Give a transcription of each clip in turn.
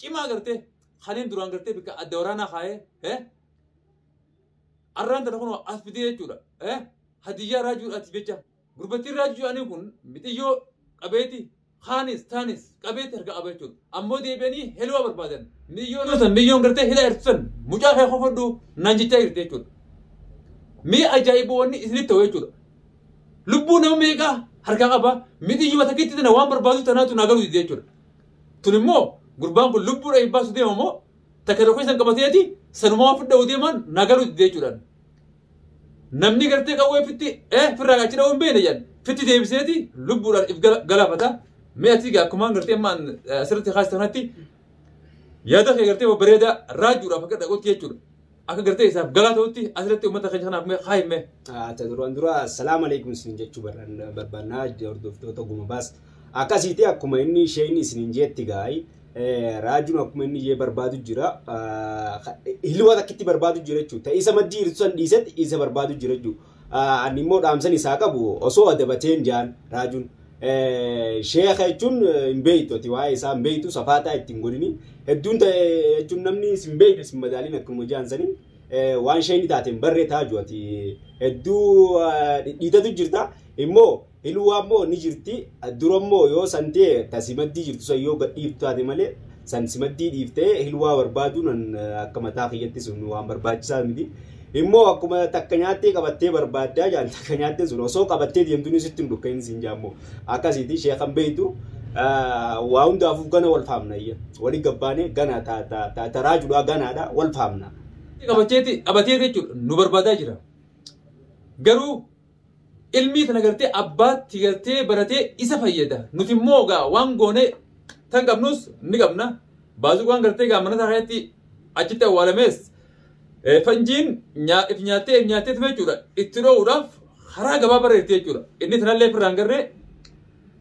cimaa gartee kaniin duraan gartee bikka adda waraanaa kaayee eh? arraan tana kun as fidee jechuudha eh? hadiyyaa raajuudhaatiif jecha gurbattiin raajuu jedhanii kun mixiyyoo qabeeti kaanis taanis qabeeti harka qaba jechuudha ammoo deebi'anii heloo barbaadan miyyoon san miyyoon gartee hila hirtisan mucaa kee kofodhu naan jechaa jirti jechuudha mi'a ajaa'iboonni isinitti ta'u jechuudha lubbuu nama meeqaa harkaa qaba mixiyyuma takkitti tana waan barbaadu tanaatu naa galuu dide jechuudha Tun immoo gurbaan kun lubbuudha hin baasu deema moo takka tokko isan qabateeti sanumaa waan fudhawu deemaan naa galuu didee jechuudhaan. Namni gartee qawwee fitti eh firraa achi dha'uu hin beekne jedhan fitti deebiseeti lubbuudhaan if gala- galaafata. Mee ati egaa akkumaan gartee amma asirratti kaasite kanatti yaada kee gartee babbareedaa raajuudhaaf akka dhaqotti jechuudha. Akka gartee isaaf galaa ta'utti asirratti uummata keenya kanaaf mee kaayi mee. Ata duraan dura salaam alaikum isin jechuu barbaanna- barbaannaa hordoftoota guma baas. Akkasiiti akkuma inni isheen isiniin jeetti gaa'e raajuun akkuma inni ishee barbaadu jira. Hilwa takkitti barbaadu jira jechuudha. Isa maddii hir'isu san dhiisetti isa barbaadu jira jechuudha. Ani immoo dhaamsan isaa qabu osoo adabateen jaan raajuun. Sheeka jechuun hin beektu ati waa'ee isaa hin beektu safaataa itti hin godhini. Hedduun ta'e jechuun namni sin beekne sin madaaliin akkuma jaan sanii waan sheekni taateen barree taaju ati hedduu dhidhiitatu jirta immoo Hiluwa immoo ni jirti dura immoo yoo san ta'e ta simaddii jirtu san yoo gadhiiftu taate malee san simaddii dhiiftee hiluwaa barbaaduun an akka mataa kiyyatti sun waan barbaachisaa miti. Immoo akkuma takka nyaattee qabattee barbaaddaa jaan takka nyaattee sun osoo qabattee deemtuun sitti hin dhukka'in siin jaa immoo akkasiiti sheekan beeytu waa hundaafuu gana wal faamna iyya wali gabbaanee gana ta ta ta ta raajudhaa ganaadha wal faamna. Qabateeti qabatee jechuudha nu barbaadaa jira garuu Ilmii tana gartee abbaatti galtee baratee isa fayyada. Nuti immoo gaa waan goone tan qabnus ni qabna. Baazuqaan gartee gaa mana isaa keessatti achitti awwaalamees eh, fanjiin nyaa- if nyaattee if nyaattee tume jechuudha. Itti dhoowuudhaaf karaa gabaa bareerti jechuudha. Inni tanallee firraan garree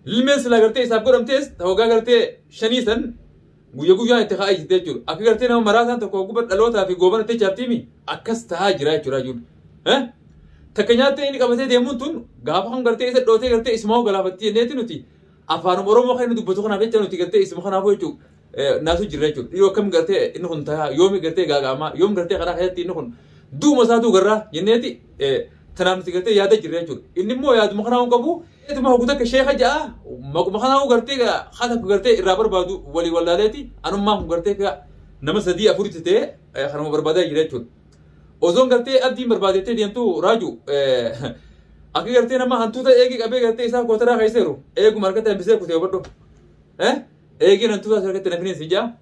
Ilmeen silaa gartee isaaf godhamtees hoggaa gartee shanii san guyya guyyaan itti ka'aa jirti jechuudha. Akka gartee nama maraataan tokko ogummaa dhalootaa fi goobana itti chaaptiimi akkas ta'aa jira jechuudha jechuudha. Eh? Takka nyaattee inni qabatee deemuun tun gaafa kun gartee isa dhootee gartee isuma hoo galaafattii jenneeti nuti afaanuma Oromoo kan inni dubbatu kanaaf jecha nuti gartee isuma kanaafuu jechuudha. Eh, Naasuu jirra jechuudha. Dhiyoo akkam gartee inni kun ta'aa yoomi gartee gaaga'amaa yoomi gartee karaa keessatti inni kun duuma isaatuu garraa jenneeti eh, Tanaan nuti gartee yaada jirra jechuudha. Inni immoo yaaduma kanaa hin qabu. Ituma hogu takka sheeka ja'a maquma kanaa gartee haa takka gartee irraa barbaadu walii wallaaleeti anummaa kun gartee ka nama sadii afuritti ta'e eh, kanuma barbaadaa jira jechuudha. Osoon gartee abdiin barbaadettee deemtu raaju akka gartee nama hantuuta eegee qabee gartee isaa kootaraa keesseeru eeguma harkatti hambisee kutee hubadhu. Eh? Eegeen hantuuta isaa harkatti nafiniin si ja'a.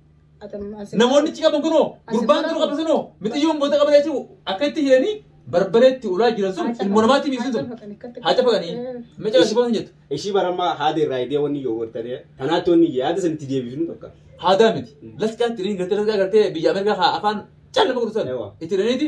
Namoonni achi qaban kunoo gurbaan kun qaban sunoo mixiyyoon goota qaban jechuun akka itti jiranii barbareetti ulaa jiran sun ilmo namaatti miidhagsin sun haa cafaqanii micaa si boosan jettu Ishii barammaa haada irraa idee wanni yoo wartadee tanaatti wanni yaada sanitti deebifnu tokko. haadaa miti lasqaatti illee gartee lasqaa gartee biyya Ameerikaa haa afaan caalama gurgusan Ewa. itti jiraniiti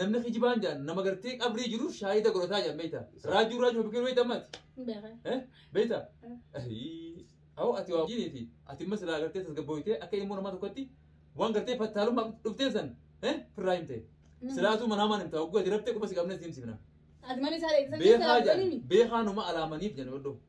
Namni kijibaan jedhan nama gartee qabrii jiru shaahida godhataa jedhan beekta. Raajuu raajuu fakkiin beekta ammaati. Beekaa. Eh? Beekta? Ahii. Awoo ati waa jiiniiti. Ati immoo silaa gartee tasgabbooytee akka ilmoo namaa tokkotti waan gartee fattaalummaa dhuftee san eh? firraa himte. Silaatuu manaa maan himta hogguu ati rabtee quba si qabnee si himsifna. Ati mana isaa eegsisan Beekaa keessaa jedhan beekaa numa alaamaniif jedhan oddoo.